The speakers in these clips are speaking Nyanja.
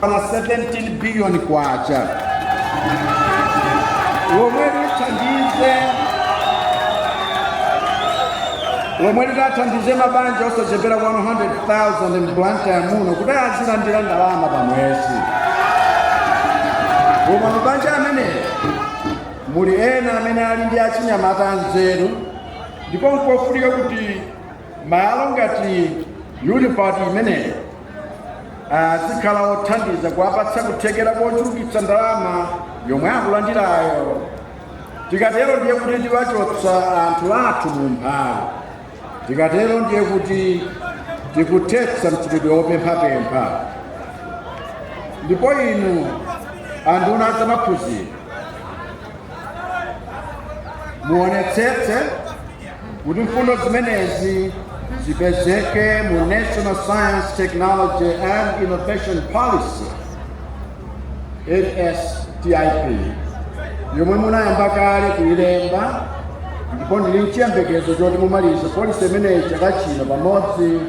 Pana 17 billion kwacha lomwe lithandize lomwe litathandize mabanja osachepera 100,000 m'Blantyre muno kuti azilandira ndalama pa mwezi koma mabanja amene muli ena amene ali ndi achinyamata anzeru ndipo nkofunika kuti Malo ngati UniPod imeneyo azikhala othandiza kuwapatsa kuthekera kochulukitsa ndalama yomwe akulandirayo. Tikatero ndiye kuti tiwachotsa anthu athu mu umphawi. Tikatero ndiye kuti tikuthetsa mchitidwe wopemphapempha. Ndipo inu anduna azamaphunziro muonetsetse kuti mfundo zimenezi zipezeke mu National Science, Technology and Innovation Policy NSTIP yomwe munayamba kale kuyilemba ndipo ndili nchiyembekezo choti mumaliza polisi imeneyi chaka chino pamodzi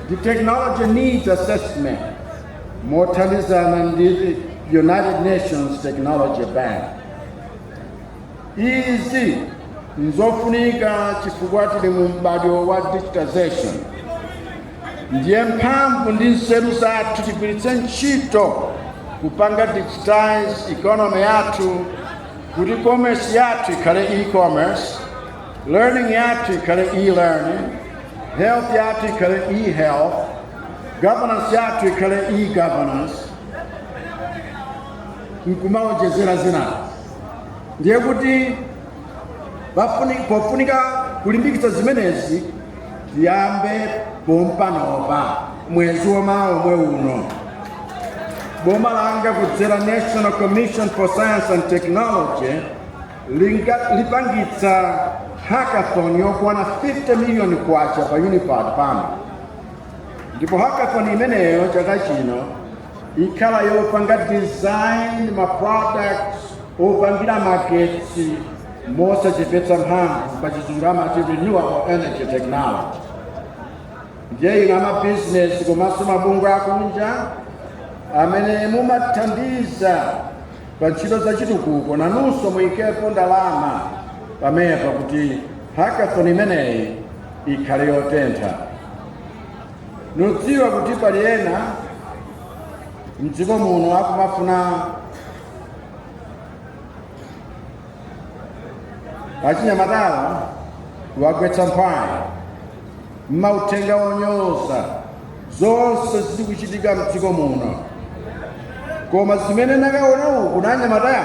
ndi technology needs assessment mothandizana ndi united nations technology bank Izi nzofunika chifukwa tili mu m'badwo wa digitization, ndiye mphamvu ndi nzeru zathu tigwiritse ntchito kupanga digitize economy yathu kuti commerce yathu ikhale e-commerce, learning yathu ikhale e-learning, health yathu ikhale e-health, governance yathu ikhale e-governance, nkumawonjezera zinazo. ndiye kuti pofuni- pofunika kulimbikitsa zimenezi tiyambe pompanopa mwezi wamawa omwe uno boma langa kudzera national commission for science and technology linga- lipangitsa hackathon yokwana 50 million kwacha pa UniPod pano ndipo hackathon imeneyo chaka chino ikhala yopanga design ma products opangira magetsi mosachepetsa mphamvu pa chizungu amati renewable energy technology ndiye inu amabizinesi komanso mabungwe akunja amene mumathandiza pa ntchito za chitukuko nanunso muyikepo ndalama pamenepa kuti hackathon imeneyi ikhale yotentha ndidziwa kuti pali ena mdziko muno akumafuna achinyamatawa awagwetse mphwayi ndi mauthenga onyoza zonse zili kuchitika mdziko muno koma zimene ndakaona uko ndi anyamatawa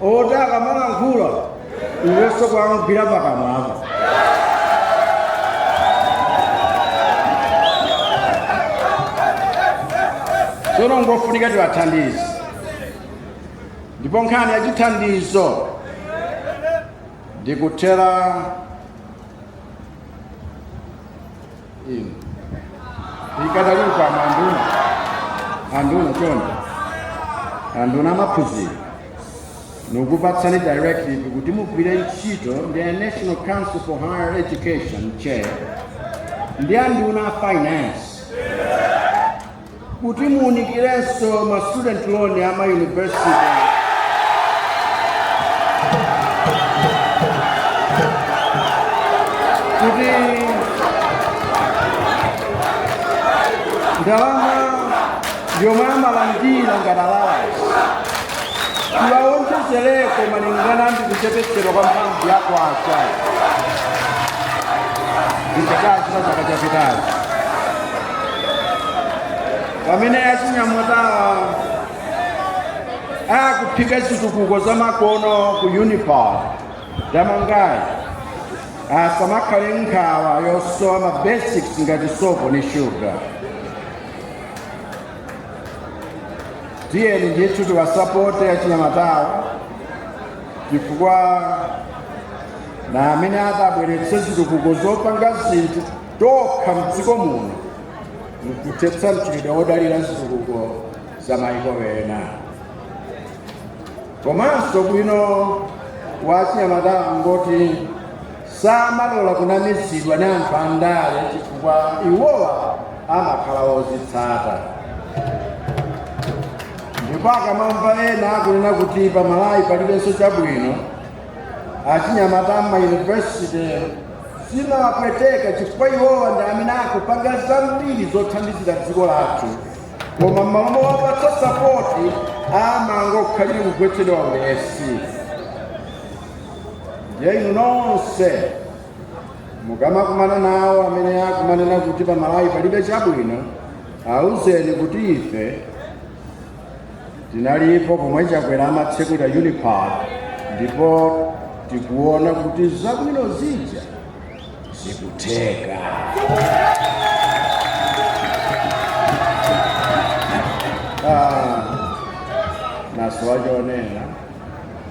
oti akamalankhula iwenso kungogwira pakamwapo tsono ngofunika tiwathandize ndipo nkhani yachithandizo ndikutherayi inu ikadali mkamwa nduna anduna chonde anduna a maphunziro ndikupatsani directive kuti mugwire ntchito ndi a national council for higher education NCHE ndi anduna a finance kuti muunikirenso ma student loan a ma university kuti ndalama yomwe amalandira ngati allowance tiwawonjezereko malingana ndi kuchepetsedwa kwa mphamvu ya kwacha komwe kwachitika pa chaka chapitachi pamene achinyamatawa akuphika zitukuko za makono ku unipod tamangayi asamakhale nkhawa yosowa ma basics ngati sopo ndi shuga tiyeni ndithu tiwasapote achinyamatawa chifukwa ndi amene atabweretse zitukuko zopanga zinthu tokha mdziko muno mkuthetsa mchitidwe wodalira zitukuko za maiko ena komanso ubwino wa achinyamatawa ngoti samalola kunamizidwa ndi anthu andale chifukwa iwowa amakhala ozitsata ndipo akamamva ena akunena kuti pamalawi palibenso chabwino achinyamata m'mayunivesite zimawapweteka chifukwa iwowa ndi amene akupanga zambiri zothandizira dziko lathu koma m'malo mowapatsa sapoti amangokhalira kugwetsedwa ulesi ndiye inu nonse mukamakumana nawo amene akumanena kuti pamalawi palibe chabwino awuzeni kuti ife tinalipo pomwe chakwera amatsekula Unipod ndipo tikuona kuti zabwino zija zikutheka ah, nasowa chonena